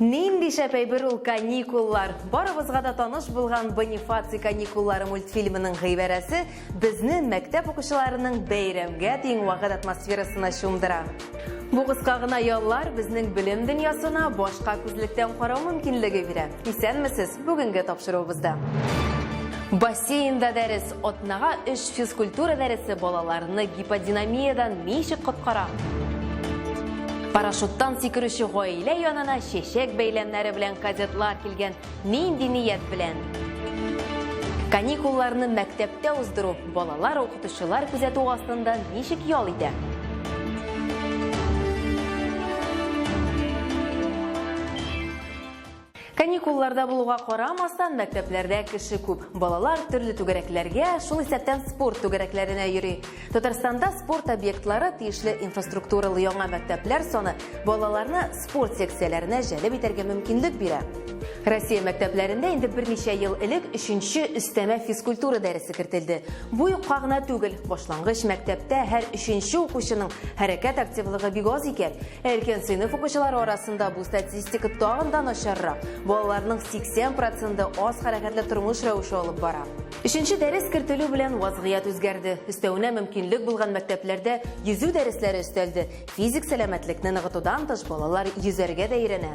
Нинди шәп әйбер ул каникуллар! Барыбызга да таныш булган Бонифаций каникуллары мультфильмының гыйбарәсе безне мәктәп укучыларының бәйрәмгә тиң вакыт атмосферасына чумдыра. Бу кыска гына яллар безнең белем дөньясына башка күзлектән карау мөмкинлеге бирә. Исәнмесез! Бүгенге тапшыруыбызда. Бассейнда дәрес, атнага 3 физкультура дәресе балаларны гиподинамиядан ничек коткара? Парашюттан сикерүче гаилә янына чәчәк бәйләмнәре белән кадетлар килгән нинди ният белән? Каникулларны мәктәптә уздыру балалар укытучылар күзәтү астында ничек ял итә? Каникулларда булуга карамастан, мәктәпләрдә кеше күп. Балалар төрле түгәрәкләргә, шул исәптән спорт түгәрәкләренә йөри. Татарстанда спорт объектлары, тиешле инфраструктуралы яңа мәктәпләр саны балаларны спорт секцияләренә җәлеп итәргә мөмкинлек бирә. Россия мәктәпләрендә инде берничә ел элек өченче өстәмә физкультура дәресе кертелде. Бу юкка гына түгел, башлангыч мәктәптә һәр өченче укучының хәрәкәт активлыгы бик аз икән. Өлкән сыйныф укучылары арасында бу статистика тагын да начаррак. Балаларның 80 проценты аз хәрәкәтле тормыш рәвеше алып бара. Өченче дәрес кертелү белән вазгыять үзгәрде. Өстәвенә мөмкинлек булган мәктәпләрдә йөзү дәресләре өстәлде. Физик сәламәтлекне ныгытудан тыш балалар йөзәргә дә өйрәнә.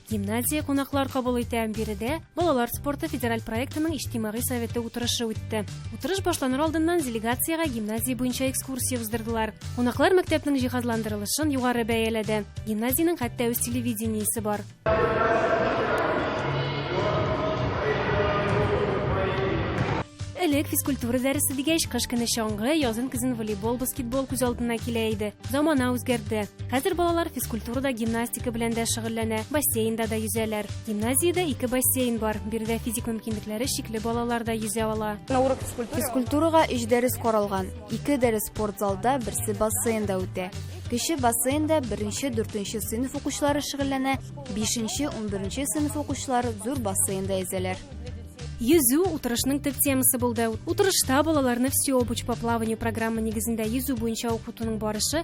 Гимназия кунаклар кабул итә. Биредә балалар спорты федераль проектының иҗтимагый советы утырышы үтте. Утырыш башланыр алдыннан делегациягә гимназия буенча экскурсия уздырдылар. Кунаклар мәктәпнең җиһазландырылышын югары бәяләде. Гимназиянең хәтта үз телевидениесе бар. Элек физкультура дәресе дигәч, кыш көне чаңгы, язын көзен волейбол, баскетбол күз алдына килә иде. Замана үзгәрде. Хәзер балалар физкультурада гимнастика белән дә шөгыльләнә, бассейнда да йөзәләр. Гимназиядә ике бассейн бар, биредә физик мөмкинлекләре чикле балалар да йөзә ала. Физкультурага өч дәрес каралган, ике дәрес спорт залда, берсе бассейнда үтә. Кече бассейнда беренче, дүртенче сыйныф укучылары шөгыльләнә, бишенче, унберенче сыйныф укучылары зур бассейнда йөзәләр. Йөзү утырышның төп темасы булды. Утырышта балаларны все обуч по плаванию программа нигезендә йөзү буенча укытуның барышы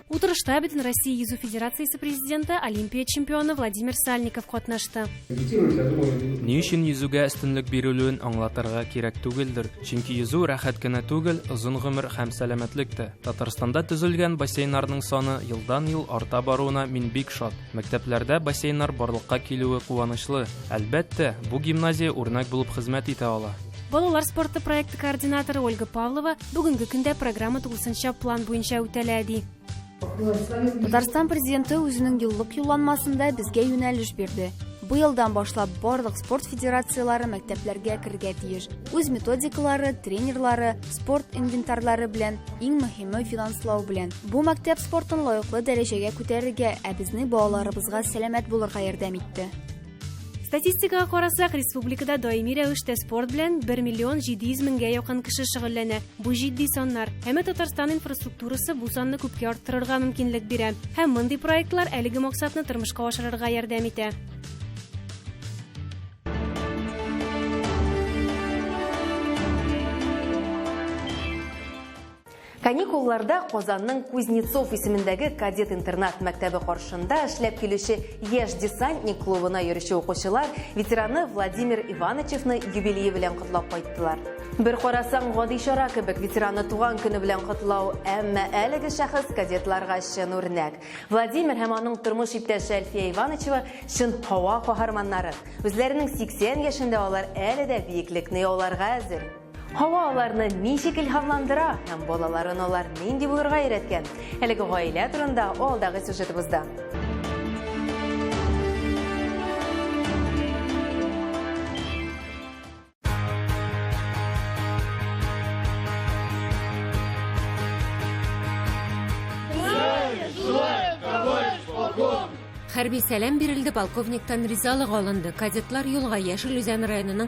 Утырышта Бөтенроссия йөзү федерациясе президенты, Олимпия чемпионы Владимир Сальников катнашты. Ни өчен йөзүгә өстенлек бирелүен аңлатырга кирәк түгелдер, чөнки йөзү рәхәт кенә түгел, озын гомер һәм сәламәтлек тә. Татарстанда төзелгән бассейннарның саны елдан-ел арта баруына мин бик шат. Мәктәпләрдә бассейннар барлыкка килүе куанычлы. Әлбәттә, бу гимназия үрнәк булып хезмәт итә ала. Балалар спорты проекты координаторы Ольга Павлова бүгенге көндә программа тулысынча план буенча үтәлә, ди. Татарстан президенты үзенең юллык юлланмасында безгә юнәлеш бирде. Бу елдан башлап барлык спорт федерацияләре мәктәпләргә керергә тиеш. Үз методикалары, тренерлары, спорт инвентарьлары белән, иң мөһиме финанслау белән. Бу мәктәп спортын лаеклы дәрәҗәгә күтәрергә, ә безнең балаларыбызга сәламәт булырга ярдәм итте. Статистикага карасак, республикада даими рәвештә спорт белән 1 миллион 700 меңгә якын кеше шөгыльләнә. Бу җитди саннар. Әмма Татарстан инфраструктурасы бу санны күпкә арттырырга мөмкинлек бирә. Һәм мондый проектлар әлеге максатны тормышка ашырырга ярдәм итә. Каникулларда Казанның Кузнецов исемендәге кадет-интернат мәктәбе каршында эшләп килүче Яшь десантник клубына йөрүче укучылар ветераны Владимир Иванычевны юбилее белән котлап кайттылар. Бер карасаң, гади чара кебек ветераны туган көне белән котлау, әмма әлеге шәхес кадетларга чын үрнәк. Владимир һәм аның тормыш иптәше Әлфия Иванычева чын һава каһарманнары. Үзләренең 80 яшендә алар әле дә биеклекне яуларга әзер. Һава аларны ничек илһамландыра һәм балаларын алар нинди булырга өйрәткән? Әлеге гаилә турында алдагы сюжетыбызда. Хәрби сәлам бирелде, полковниктан ризалык алынды. Кадетлар юлга Яшел Үзән районының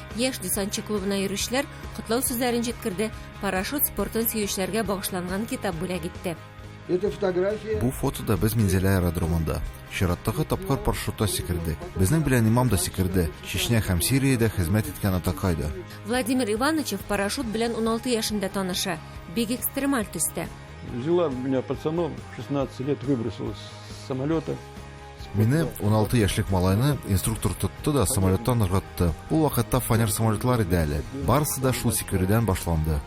Яшь десантчы клубына йөрүчеләр котлау сүзләрен җиткерде, парашют спортын сөючеләргә багышланган китап бүләк итте. Бу фотода без Минзәлә аэродромында. Чираттагы тапкыр парашютта сикердек. Безнең белән имам да сикерде, Чечня һәм Сириядә хезмәт иткән атакай да. Владимир Иванычев парашют белән 16 яшендә таныша, бик экстремаль төстә. Взяла меня пацаном, 16 лет выбросила с самолета. Мине, 16 яшьлек малайны, инструктор тотты да самолеттан ыргытты. Ул вакытта фанер самолетлар иде әле. Барысы да шул сикерүдән башланды.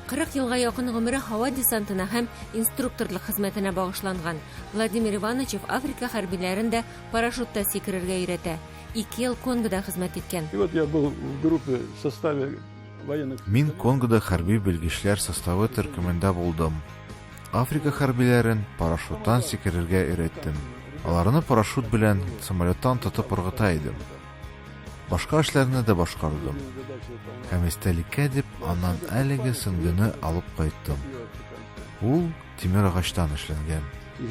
40 елга якын гомере һава десантына һәм инструкторлык хезмәтенә багышланган. Владимир Иванович Африка хәрбиләрен дә парашютта сикерергә өйрәтә. Ике ел Конгода хезмәт иткән. И вот я был в группе в составе Мин Конгода хәрби белгечләр составы төркемендә булдым. Африка хәрбиләрен парашюттан сикерергә өйрәттем. Аларны парашют белән самолеттан тотып ыргыта идем. Башка эшләрне дә башкардым. Һәм истәлеккә дип аннан әлеге сөңгене алып кайттым. Ул тимер агачтан эшләнгән.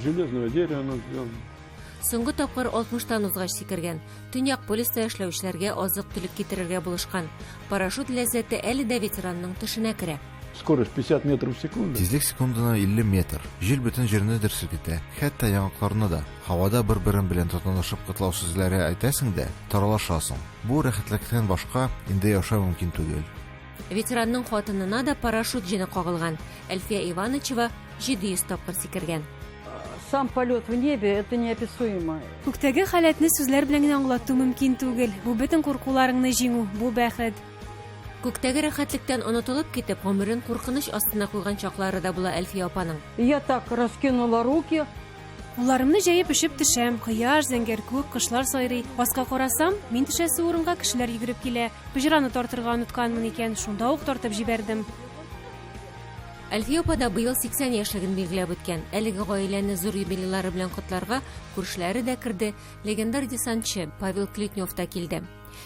Железного дерева Соңгы тапкыр 60-тан узгач сикергән. Төньяк полюста эшләүчеләргә азык-төлек китерергә булышкан. Парашют ләззәте әле дә ветеранның төшенә керә. Скорость 50 метров в секунду. Тизлек секундына 50 метр. Җил бөтен җирне дер селкетә, хәтта яңакларны да. Һавада бер-берең белән тотанышып котлау сүзләре әйтәсең дә, таралашасың. Бу рәхәтлекнән башка инде яшәү мөмкин түгел. Ветеранның хатынына да парашют җене кагылган. Әлфия Иванычева 700 тапкыр сикергән. Сам полет в небе это неописуемо. Күктәге халәтне сүзләр белән генә аңлату мөмкин түгел. Бу бөтен куркуларыңны җиңү, бу бәхет. Күктәге рәхәтлектән онытылып китеп, гомерен куркыныч астына куйган чаклары да була Әлфия апаның. Я так раскинула руки, Кулларымны җәеп өшеп төшәм. Кояш, зәңгәр күк, кошлар сайрый. Аска карасам, мин төшәсе урынга кешеләр йөгереп килә. Пыҗраны тартырга онытканмын икән, шунда ук тартып җибәрдем. Әлфия апа да быел 80 яшьлеген билгеләп үткән. Әлеге гаиләне зур юбилейлары белән котларга күршеләре дә керде, легендар десантчы Павел Клетнев та килде.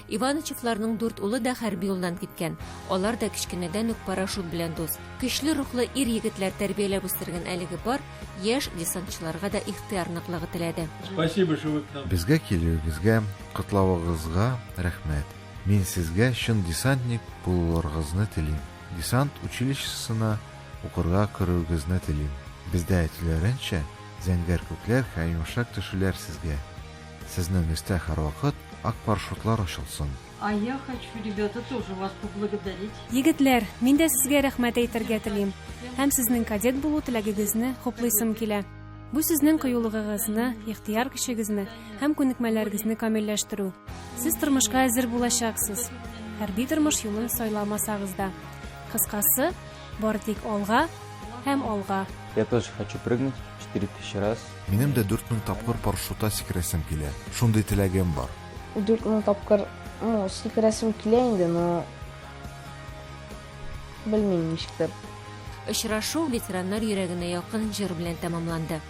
Иванычевларның дүрт улы да хәрби юлдан киткән. Алар да кечкенәдән үк парашют белән дус. Көчле рухлы ир-егетләр тәрбияләп үстергән әлеге пар яшь десантчыларга да ихтыяр ныклыгы теләде. Спасибо, что вы к нам. Безгә килүегезгә, котлавыгызга рәхмәт. Мин сезгә чын десантник булулыргызны телим. Десант училищесына укырга керүегезне телим. Бездә әйтүләренчә, зәңгәр күкләр һәм йомшак төшүләр сезгә. Сезнең өстә һәрвакыт ак парашютлар очылсын! А я хочу, ребята, тоже вас поблагодарить. Егетләр, мин дә сезгә рәхмәт әйтергә телим һәм сезнең кадет булу теләгегезне хуплыйсым килә. Бу сезнең кыюлыгыгызны, ихтыяр көчегезне һәм күнекмәләрегезне камилләштерү. Сез тормышка әзер булачаксыз, хәрби тормыш юлын сайламасагыз да. Кыскасы, Бары тик алга һәм алга! Я тоже хочу прыгнуть четыре тысячи раз. Минем дә дүрт мең тапкыр парашюта сикерәсем килә. Шундый теләгем бар. Дүрт мең тапкыр, ну, сикерәсем килә инде, но белмим ничектер. Очрашу ветераннар йөрәгенә якын җыр белән тәмамланды.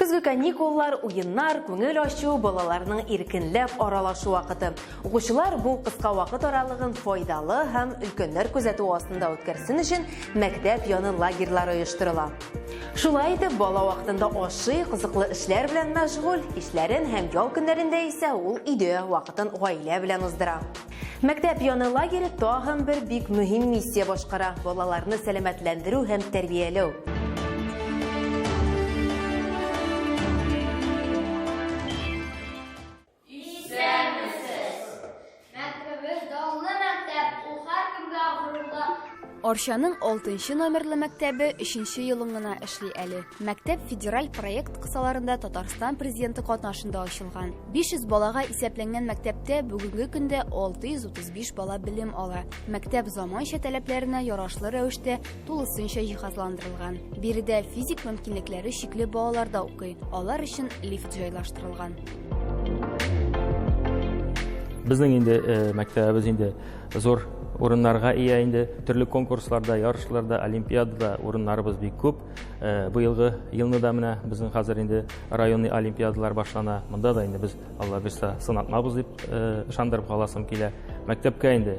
Көзге каникуллар, уеннар, күңел ачу, балаларның иркенләп аралашу вакыты. Укучылар бу кыска вакыт аралыгын файдалы һәм өлкәннәр күзәтү астында үткәрсен өчен мәктәп яны лагерьлары оештырыла. Шулай итеп, бала вакытында ашый, кызыклы эшләр белән мәшгуль, кичләрен һәм ял көннәрендә исә ул өйдә вакытын гаилә белән уздыра. Мәктәп яны лагере тагын бер бик мөһим миссия башкара, балаларны сәламәтләндерү һәм тәрбияләү. Арчаның 6 номерлы мәктәбе 3 елын гына эшли әле. Мәктәп федераль проект кысаларында Татарстан президенты катнашында ачылган. 500 балага исәпләнгән мәктәптә бүгенге көндә 635 бала белем ала. Мәктәп заманча таләпләренә ярашлы рәвештә тулысынча җиһазландырылган. Биредә физик мөмкинлекләре чикле балалар да укый. Алар өчен лифт җайлаштырылган. Безнең инде э, мәктәбебез инде зур урыннарга ия инде. Төрле конкурсларда, ярышларда, олимпиадада урыннарыбыз бик күп. Э, быелгы елны да менә безнең хәзер инде районный олимпиадалар башлана монда да инде без алла бирса сынатмабыз дип э, ышандырып каласым килә мәктәпкә инде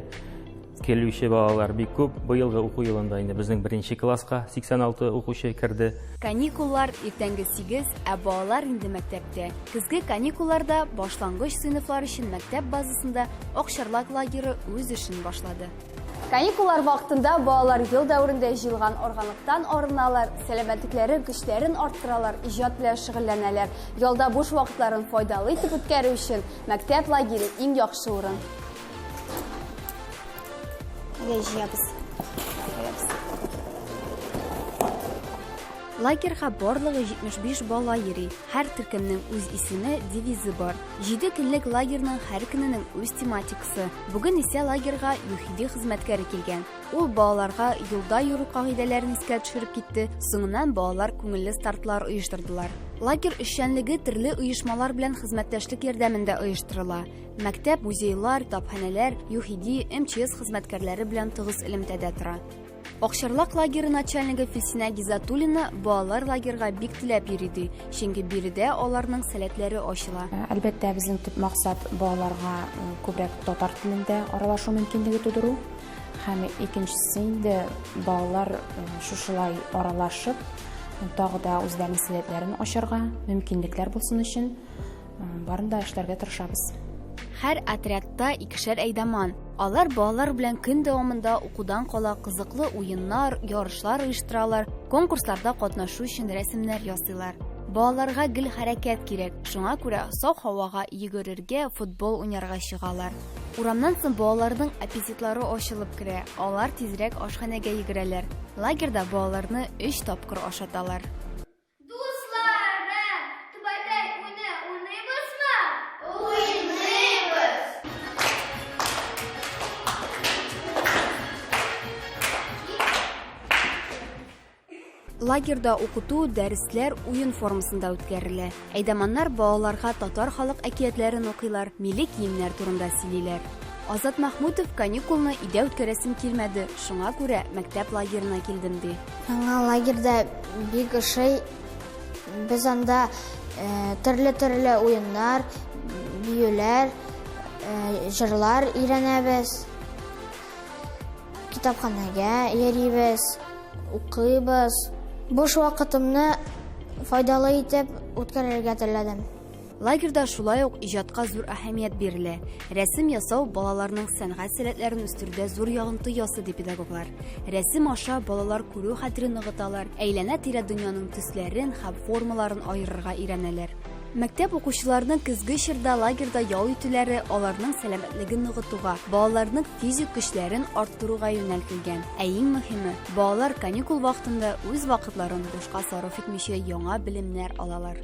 килүче балалар бик күп быелгы уку елында инде безнең беренче класска 86 укучы керде каникуллар иртәнге 8 ә балалар инде мәктәптә көзге каникулларда башлангыч сыйныфлар өчен мәктәп базасында акчарлак лагеры үз эшен башлады Каникуллар вакытында балалар ел дәверендә җыелган органлыктан арыналар, сәламәтлекләре, көчләрен арттыралар, иҗат белән шөгыльләнәләр. Ялда буш вакытларын файдалы итеп үткәрү өчен мәктәп лагере иң яхшы урын. Әйдә җыябыз. Лагерьга барлыгы 75 бала йөри. Һәр төркемнең үз исеме, девизы бар. 7 көнлек лагерьның һәр көненең үз тематикасы укытучысы. Бүген исә лагерьга ЮХИДИ хезмәткәре килгән. Ул балаларга юлда йөрү кагыйдәләрен искә төшереп китте, соңыннан балалар күңелле стартлар оештырдылар. Лагерь эшчәнлеге төрле оешмалар белән хезмәттәшлек ярдәмендә оештырыла. Мәктәп, музейлар, тапханәләр, ЮХИДИ, МЧС хезмәткәрләре белән тыгыз элемтәдә тора. Акчарлак лагеры начальнигы Филсинә Гизатуллина балалар лагерга бик теләп йөри ди, чөнки биредә аларның сәләтләре ачыла. Ә, әлбәттә, безнең төп максат балаларга э, күбрәк татар телендә аралашу мөмкинлеге тудыру. Һәм икенчесе инде балалар э, шушылай аралашып, тагы да үзләренең сәләтләрен ачарга мөмкинлекләр булсын өчен Барын да эшләргә тырышабыз. Һәр отрядта икешәр әйдаман. Алар балалар белән көн дәвамында укудан кала кызыклы уеннар, ярышлар оештыралар, конкурсларда катнашу өчен рәсемнәр ясыйлар. Балаларга гел хәрәкәт кирәк, шуңа күрә саф һавага йөгерергә, футбол уйнарга чыгалар. Урамнан соң балаларның аппетитлары ачылып керә, алар тизрәк ашханәгә йөгерәләр. Лагерьда балаларны өч тапкыр ашаталар. лагерьда укыту, дәресләр уен формасында үткәрелә. Әйдаманнар балаларга татар халык әкиятләрен укыйлар, милли киемнәр турында сөйлиләр. Азат Махмутов каникулны өйдә үткәрәсем килмәде, шуңа күрә мәктәп лагерына килдем ди. Яңа лагерьда бик ошый. Без анда төрле-төрле уеннар, биюләр, җырлар өйрәнәбез. Китапханәгә йөрибез, укыйбыз. Буш вакытымны файдалы итеп үткәрергә теләдем. Лагерьда шулай ук иҗатка зур әһәмият бирелә. Рәсем ясау балаларның сәнгать сәләтләрен үстерүдә зур ягынты ясы ди педагоглар. Рәсем аша балалар күрү хәтерен ныгыталар, әйләнә-тирә дөньяның төсләрен һәм формаларын аерырга өйрәнәләр. Мәктәп укучыларының көзге чорда лагерьда ял итүләре аларның сәламәтлеген ныгытуга, балаларның физик көчләрен арттыруга юнәлтелгән. Ә иң мөһиме, балалар каникул вакытында үз вакытларын бушка сарыф итмичә яңа белемнәр алалар.